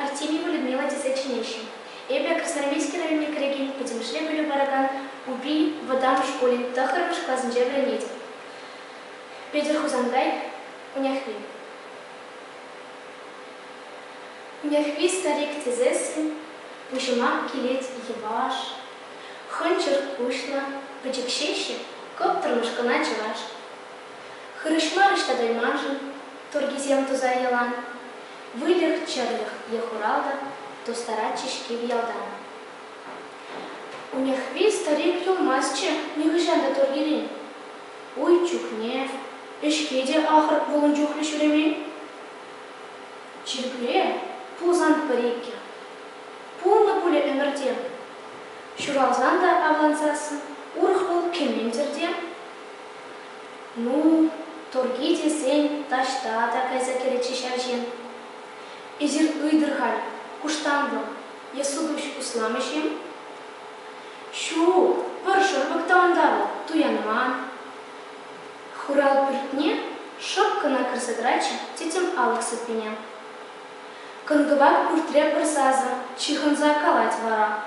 Артемьева Людмила тесе чӗнеҫҫӗ. Эпӗ Красноармейски районне кӗрекен пӗтӗмӗшле пӗлӳ паракан Упи вӑтам шкулӗн тӑххӑрмӗш класӗнче вӗренетӗп. Петӗр Хусанкай, Уняхви. Уняхви старик тесессӗн пуҫӑма килет йӑваш, хӑнчӑр куҫлӑ, пӗчӗкҫеҫҫӗ, кӑптӑрмӑш кӑна чӑваш. Хырӑҫма ӑҫта кайманшӑн туркисем туса йӑлан. Выльӑх-чӗрлӗх е хуралтӑ тустаратчӗҫ кив ялтан. Унехви старик юлмастчӗ нихӑҫан та Тургилен. Уй чухне, ӗҫке те ахӑр пулнӑ чухлӗ ҫӳремен. Чиркӳре пулсан пӗр-иккӗ. Пулнӑ пулӗ ӗмӗртен. Ҫуралсан та авлансассӑн урӑх вӑл кӗмен тӗрте. Ну, турки тесен, таҫта та кайса кӗрӗччӗ ҫав ҫын. Эсир ыйтӑр халь, куштанлӑх е сутуҫ усламӗҫ-им? Ҫук, пӑр шӑрпӑк та унта вӑл, туянман. Хурал пӳртне шӑп кӑна кӗрсе тӑратчӗ тӗтӗм алӑк сыппине. Кӑн-кӑвак пӳртре пӗр сасӑ ҫыхӑнса калать вара.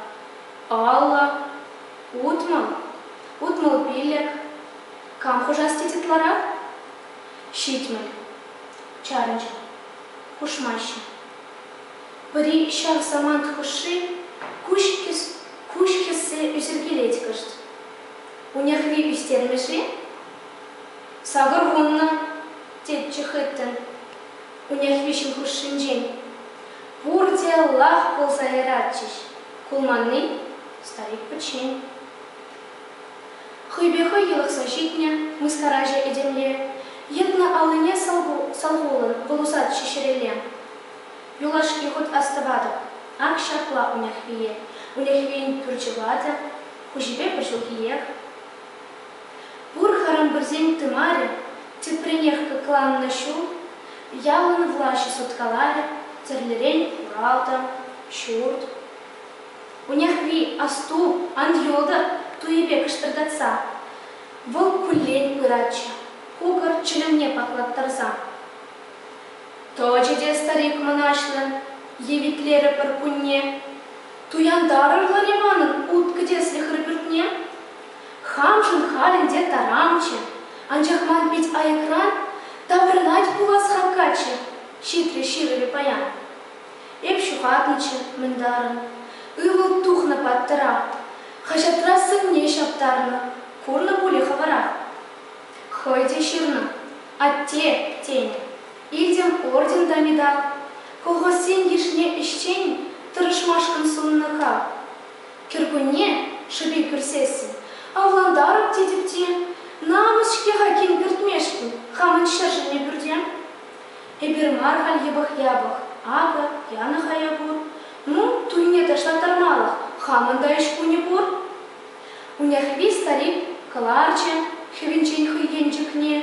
Алла, утмӑл, утмӑл пиллӗк, Кам хушас тет ытларах? Ҫитмӗл, чарӑнчӗ. Хушмаҫҫӗ. Пӗри ҫав самант хушши куҫ хӗссе ӳсӗркелет кӑшт. Унерхри ӳстермӗш-и? Сакӑр вуннӑ, тетчӗ хыттӑн Унерхвиҫӗн хушшинчен. Пурте лах пулса яратчӗҫ. Кулманни? Старик пӗччен. Хӑйпе хӑй йӑлӑхса ҫитнӗ мыскараҫӑ этемле, йӑтнӑ аллине салхулӑн вӑл усатчӗ ҫӗрелле. Юлашки хут астӑватӑп, ак ҫапла Унехвие, Унехвин пӳрчӗ ватӑ, хуҫипе пӗр ҫулхиех. Пур харамбырсен тымарӗ, тепринех кӑкланнӑ ҫул, ялӑн влаҫӗ суткаларӗ, тӗрлӗрен хуралтӑ, ҫурт. Унехри асту, Андрюта туйӗпе кӑштӑртатса, вӑл куллен пыратчӗ, кукӑр чӗлӗмне паклаттарса. Тӑчӗ те старик мӑнаҫлӑн, евитлерӗ пӗркунне. Туянтарӑрлӑр-и манӑн уткӑ-тӗслӗхӗр пӳртне? Хамшӑн халь ӗнтӗ таранччӗ, анчах ман пит айӑкран таврӑнать пулас хаккаччӗ, ҫитрӗ ҫырӑвӗ паян. Эп ҫухатнӑччӗ, мӗн тарӑн. Ывӑл тухнӑ паттӑра. Хаҫатра сӑнне ҫаптарнӑ. Курнӑ пулӗ хӑвӑра? Хӑй те ҫырнӑ. Атте, тенӗ. Илтӗм орден та медаль. Колхозсен йышне ӗҫчен тӑрӑшмашкӑн суннӑ-ха. Кӗркунне, шӗпе кӳрсессӗн, авлантарӑп тетӗп те, намӑс-ҫке-ха кин кӗртмешкӗн хамӑн ҫӗршӗнне пӳрте. Эпир мар халь йӑпӑх-япӑх. Акӑ, янӑ-ха я пур. Ну, туйне ташлаттармалӑх хамӑн та ӗҫ кунӗ пур. Унехри старик кӑларчӗ хӗвӗнчен хӑй енчӗкне,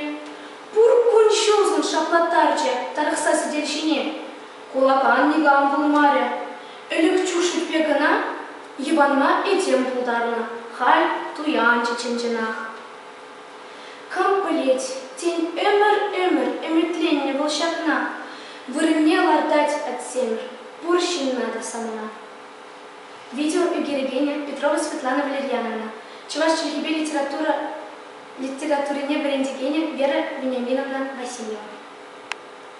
пур кун-ҫулшӑн шаплаттарчӗ тарӑхса сӗтел ҫине. Кулакан никам пулмарӗ. Ӗлӗк Чушиппе кӑна йӑпанма этем пултарнӑ, халь туянчӗ чӑн-чӑнах. Кам пӗлет, тен, ӗмӗр-ӗмӗр ӗмӗтленнӗ вӑл ҫакна, вырӑнне лартать Атьсемӗр пур ҫынна та самана. Видео ӳкерекенӗ Петрова Светлана Валерьяновна, чӑваш чӗлхипе литература литературине вӗрентекенӗ Вера Вениаминовна Васильева.